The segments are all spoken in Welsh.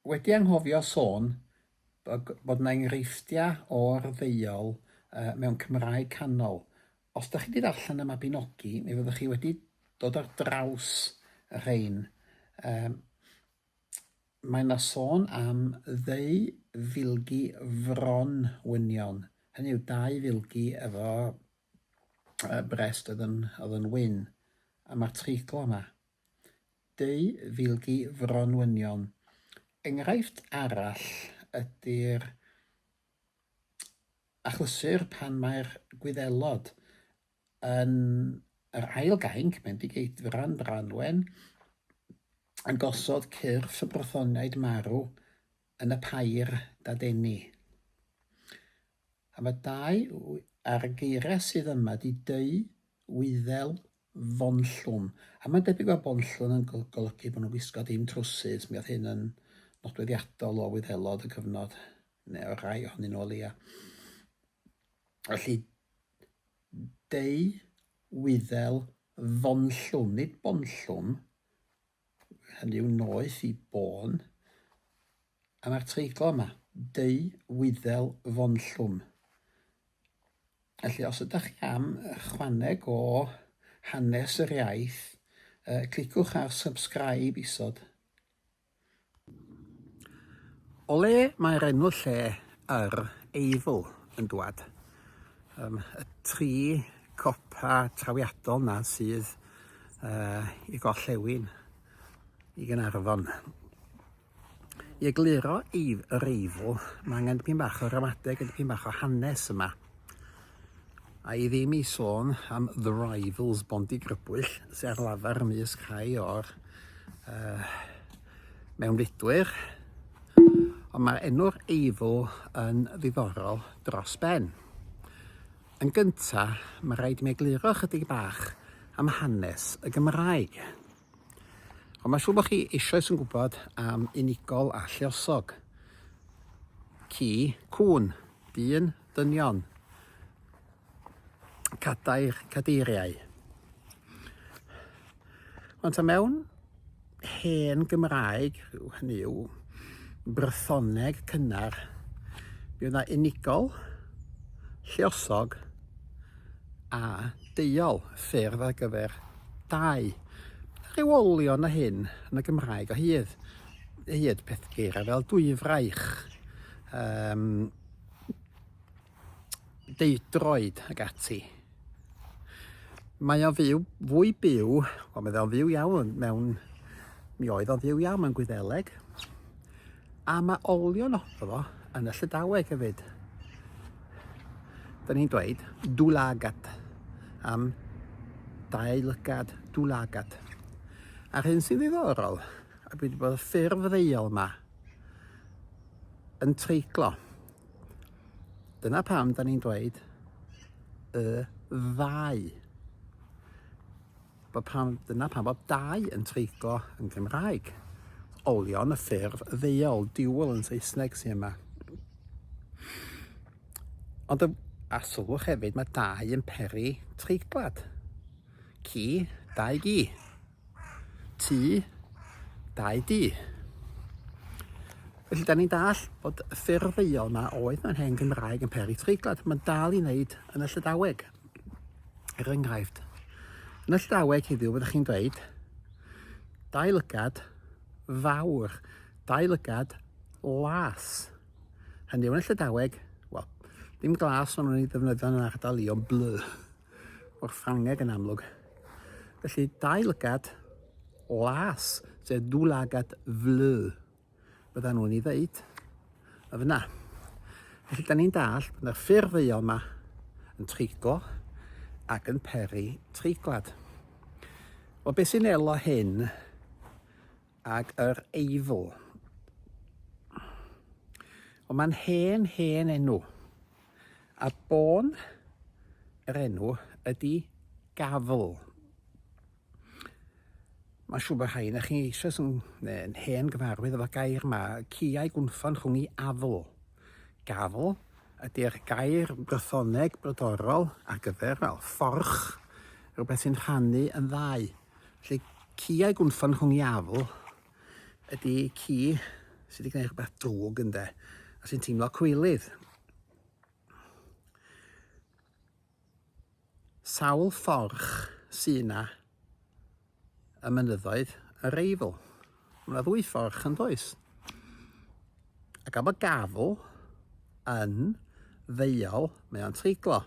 Wedi anghofio sôn bod 'na enghreifftiau o'r ddeuol mewn Cymraeg canol. Os dach chi 'di darllen y Mabinogi, mi fyddwch chi wedi dod ar draws y rhein. Yym mae 'na sôn am ddeu filgi fron wynion, hynny yw dau filgi efo yy brest oedd yn oedd yn wyn, a ma'r treigl yma. Dwy filgi fronwynion. Enghraifft arall ydy'r achlysur pan mae'r Gwyddelod yn yr ail gainc, Bendigeidfran Branwen, yn gosod cyrff y Brythoniaid marw yn y pair dadeni. A mae dau ar y geiriau sydd yma ydy dwy wyddel Fonllwm. A mae'n debyg fod bonllwm yn golygu bod nhw'n gwisgo dim trowsus, mi oedd hyn yn nodweddiadol o Wyddelod y cyfnod, neu o rai ohonyn nhw o leia. Felly, deu, wyddel, fonllwm, nid bonllwm, hynny yw noeth i bôn, a mae'r treiglo yma, deu wyddel fonllwm. Felly, os ydych chi am chwaneg o hanes yr iaith, cliciwch ar subscribe isod. O le mae'r enw lle yr Eifl yn dwad? Yym y tri copa trawiadol 'na sydd yy i gorllewin i Gaernarfon. I egluro Eif- yr Eifl ma' angen dipyn bach o ramadeg a dipyn bach o hanes yma. A i ddim i sôn am The Rivals, Bondi Grybwyll, sy'n ar lafar mis cae o'r uh, mewnfudwyr. Ond mae'r enw'r eifl yn ddiddorol dros ben. Yn gyntaf, mae rhaid i mi egluro chydig bach am hanes y Gymraeg. Ond mae'n siŵr bod chi eisoes yn gwybod am unigol a lluosog. Ci, cŵn, dyn, dynion, cadair, cadeiriau. Ond ta mewn hen Gymraeg, hynny yw Brythoneg cynnar, mi oedd yna unigol, lluosog, a deuol, ffurf ar gyfer dau ryw olion a hyn yn y Gymraeg o hyd, o hyd peth geirau fel dwyfraich, um, deudroed ac ati. Mae o fyw, fwy byw, o mae o'n fyw iawn mewn, mi oedd o'n fyw iawn mewn Gwyddeleg, A mae olion ohono fo yn y Llydaweg hefyd. Da ni'n dweud dwlagat am dau lygad dwlagat. A'r hyn sy'n ddiddorol, a dwi wedi bod y ffurf ddeiol yma yn treiglo. Dyna pam da ni'n dweud y ddau. Bod pan, dyna pan fod dau yn treiglo yn Gymraeg. Olion y ffurf ddeuol, dual yn Saesneg sy'n yma. Ond a sylwch hefyd, mae dau yn peri treiglad. Ci, dau gi. Tŷ, dau di. Felly, da ni'n dall bod y ffurf ddeuol yma oedd mewn hen Gymraeg yn peri treiglad. Mae'n dal i wneud yn y Llydaweg. Er enghraifft, yn y Llydaweg heddiw fyddwch chi'n dweud dau lygad fawr, dau lygad las. Hynny yw yn y Llydaweg, wel, dim glas ond nhw'n ei ddefnyddio yn yr ardal i ond blu o'r Ffrangeg yn amlwg. Felly dau lygad las, sef dwy lygad flu. byddan nhw'n ei ddeud y fyna. Felly, da ni'n dall bod yna ffurf ddeuol yma yn treiglo ac yn peri treiglad. Wel, beth sy'n elo hyn ag yr eifl? Wel, mae'n hen, hen enw. A bôn yr enw ydy gafl. Mae'n siŵr bod rhai na chi eisoes yn, yn hen gyfarwydd efo'r gair yma, ciau gwnffon rhwng i afl. Gafl ydy'r gair Brythoneg brodorol ar gyfer well, fforch, rhywbeth sy'n rhannu yn ddau. Felly ciau gwnffon rhwng i afl ydy ci sydd wedi gwneud rhywbeth drwg ynde, a sy'n teimlo cwylydd. Sawl fforch sy' 'na y mynyddoedd yr Eifl? Mae 'na ddwy fforch yn does? A gan bod gafl yn ddeuol, mae o'n treiglo.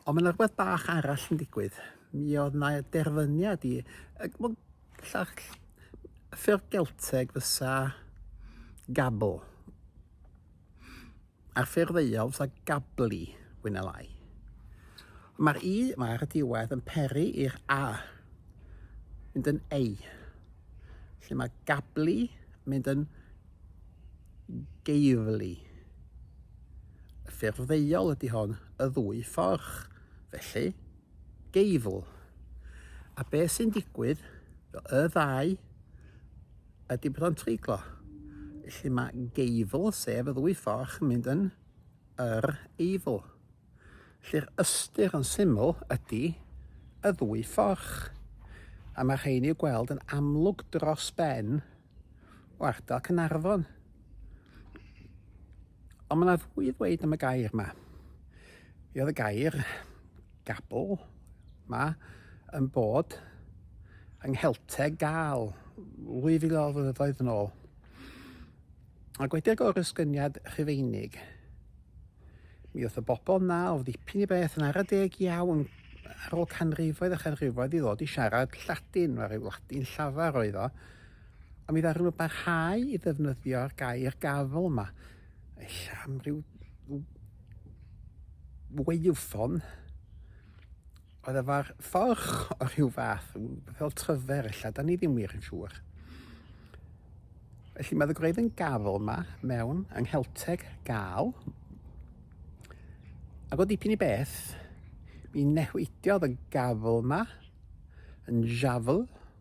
Ond mae 'na rhywbeth bach arall yn digwydd. Mi oedd 'na derfyniad i... Llall, ffurf Gelteg fysa gabl. ar ffurf Wales a Gabli, fwy na lai. Mae'r i mae ar y diwedd yn peri i'r a, mynd yn ei. Lle mae Gabli mynd yn geifli. Y ffurf ddeiol ydy hon, y ddwy fforch, felly geifl. A beth sy'n digwydd, y ddau Ydy bod o'n treiglo. Felly mae geifl, sef y ddwy fforch, yn mynd yn yr eifl. Felly'r ystyr yn syml ydy y ddwy fforch. A mae rhain i'w gweld yn amlwg dros ben o ardal Cynarfon. Ond mae yna fwy i ddweud am y gair yma. Fe oedd y gair gabl yma yn bod yng Nghelteg gael 2000 o flynyddoedd yn ôl. Ac wedi'r gorysgyniad rhufeinig, mi oedd y bobl na o ddipyn i beth yn ara deg iawn ar ôl canrifoedd a chanrifoedd i ddod i siarad Lladin, mae rhyw Ladin llafar oedd o, A mi ddaru nhw barhau i ddefnyddio'r gair gafael yma. Ella am ryw weifon oedd efo'r fforch o rhyw fath, fel tryfer ella, da ni ddim wir yn siŵr. Felly mae ddygwraedd yn gafel yma mewn yng Nghelteg gael. Ac o dipyn i beth, mi newidiodd y gafel yma yn jafel,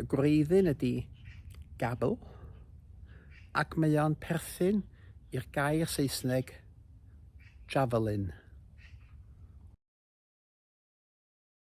Y gwreiddyn ydy gabl, ac mae o'n perthyn i'r gair Saesneg javelin.